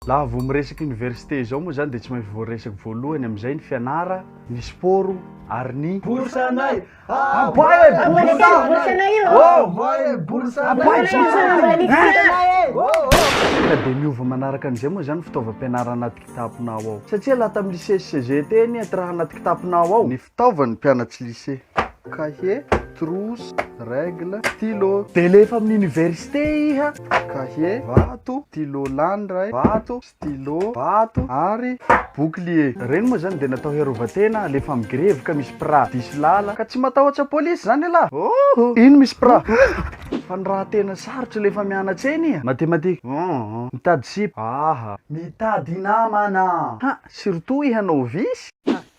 Raha vao miresaka université izao moa izany dia tsy maintsy voaresaka voalohany amin'izay ny fianara, ny sport ary ny. Bourse-nay! Abay e bourse-nay e! Abay e bourse-nay e! Ka dia miova manaraka an'izay moa izany ny fitaovam-pianarana anaty kitaponao ao. Satria laha tamin'ny lycée sy CEGET anie, tsy raha anaty kitaponao ao ny. Fitaovan'ny mpianatry lycée, cahier, trousse, règle, stylo. Dia lefa amin'ny université iha. Cahier, vato, stylo lany iray, vato, stylo, vato, ary bouclier. Ireny moa izany dia natao hiarovan-tena alefa amin'ny grevy ka misy pra diso lala ka tsy matahotra polisy izany ialahy. Hoo! Iny misy pra. Fa ny raha tena sarotra lefa mianatsa eny iha. Mathématique. Hoo! Mitady sipa. Aha! Mitady namana. Ha! Surtout iha novice. Ha!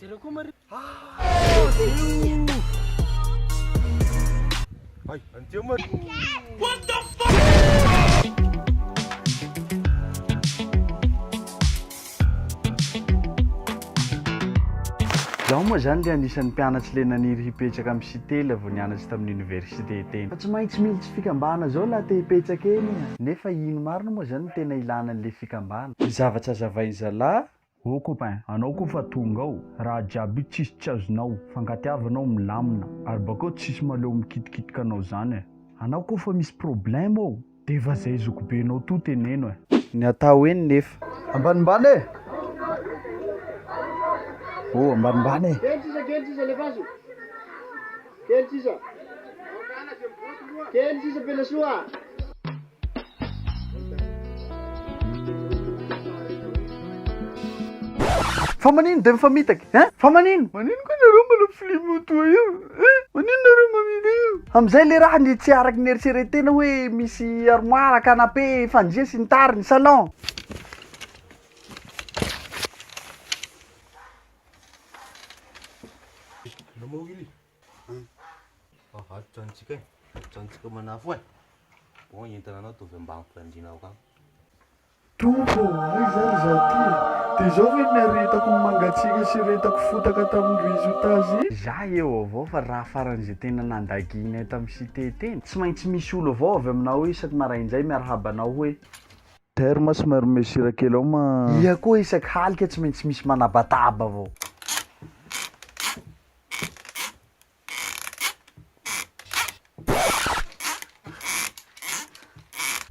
Jereo koa Maria. Ay, anjeo Maria. What the fuck? Zaho moa zany le anisan'ny mpianatsy le naniry hipetraka amin'ny Sitely vao nianatry tamin'ny université teny. Fa tsy maintsy mily tsy fikambana zao laha te hipetraka eny a! Nefa ino marina moa zany no tena ilana an'le fikambana? Ny zavatra azavainy zalah Oh copain, anao koa fa tonga ao, raha jiaby tsisy tsy azonao, fankatiavana ao milamina, ary bakeo tsisy maleo mikitikitika anao zany eh. Anao koa fa misy problème ao, defa zay zokibenao toa teneno eh. Ny atao eny nefa. Ambanimbany eh! Oh ambanimbany eh! Kely sisa kely sisa lefaso kely sisa kely sisa pelasoa. Fa manino de mifamitaka hein? Fa manino? Manino koa nareo manao film toa io hein? Manino nareo mamily io? Amizay le raha ny tsy araky ny eritreretena hoe misy armoire, canapé, fandria sy ny tariny, salon. Namoha Willy. Tompo ô, aiza ary izaho ity e? Dia izao ve no niaretako ny mangatsiaka sy retako fotaka tamin'ny résultats e? Za eo avao fa raha faran'izay tena nandaginay tamin'ny site teny, tsy maintsy misy olo avao avy aminao isaky maraindray miarahaba anao hoe. Taire ma somary omeo sira kely ao ma a. Iha koa isaky halika tsy maintsy misy manabataba vao.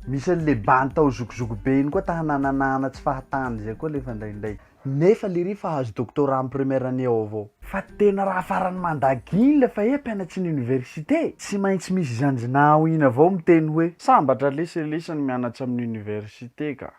Misy an'le bandy tao zokizoky be iny koa ta hanananana tsy fahatany zay koa lefa ndraindray. Nefa lery fa azo doctorat am première année ao avao. Fa tena raha farany manda gin le fa e mpianatry ny université. Tsy maintsy misy izany zna ao iny avao miteny hoe. Sambatra lesy e lesy ny mianatra amin'ny université ka.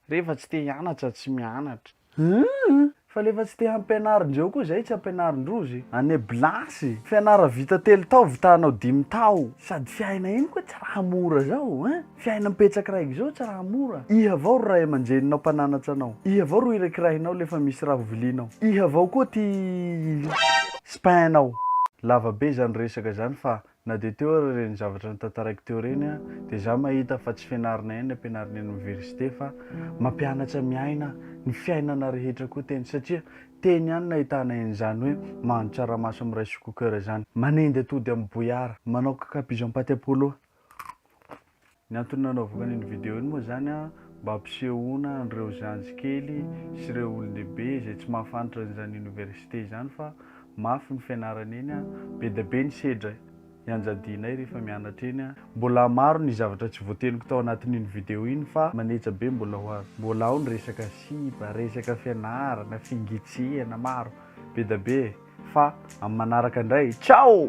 Rehefa tsy te hianatra tsy mianatra. Hum! Fa le fa tsy te hampianarin-dreo koa zay tsy ampianarin-drozy. Année blanche! Fianara vita telo tao vita hanao dimy tao. Sady fiaina iny koa tsy raha mora zao ein! Fiainam petsaka raiky izao tsy raha mora. Iha avao ry ray aman-dreninao mpananatra anao. Iha avao ro irakirahinao lefa misy raha ho vilianao. Iha avao koa ty spainao. Lava be zany resaka izany fa na dia teo ary ireny zavatra notantaraiko teo ireny an dia za mahita fa tsy fianarana ihany ny ampianarina eny oniversite fa mampianatra miaina ny fiainana rehetra koa teny satria teny ihany nahitana en'izany hoe mahandro tsaramaso am rice cooker izany, manendy atody am bouillard, manao kakapizo am paty apollo, Ny antony nanaovako an'iny vidéo iny moa izany an, mba hampisehoana an'ireo zandry kely sy ireo olon-dehibe izay tsy mahafantatra an'izany université izany fa mafy ny fianarana eny an, be dia be ny sedra ianjadianay rehefa mianatra eny an. Mbola maro ny zavatra tsy voateniko tao anatin'iny vidéo iny fa maneja be mbola ho avy. Mbola ao ny resaka sipa, resaka fianarana, fingitsihana, maro be dia be e. fa amin'ny manaraka indray, ciao!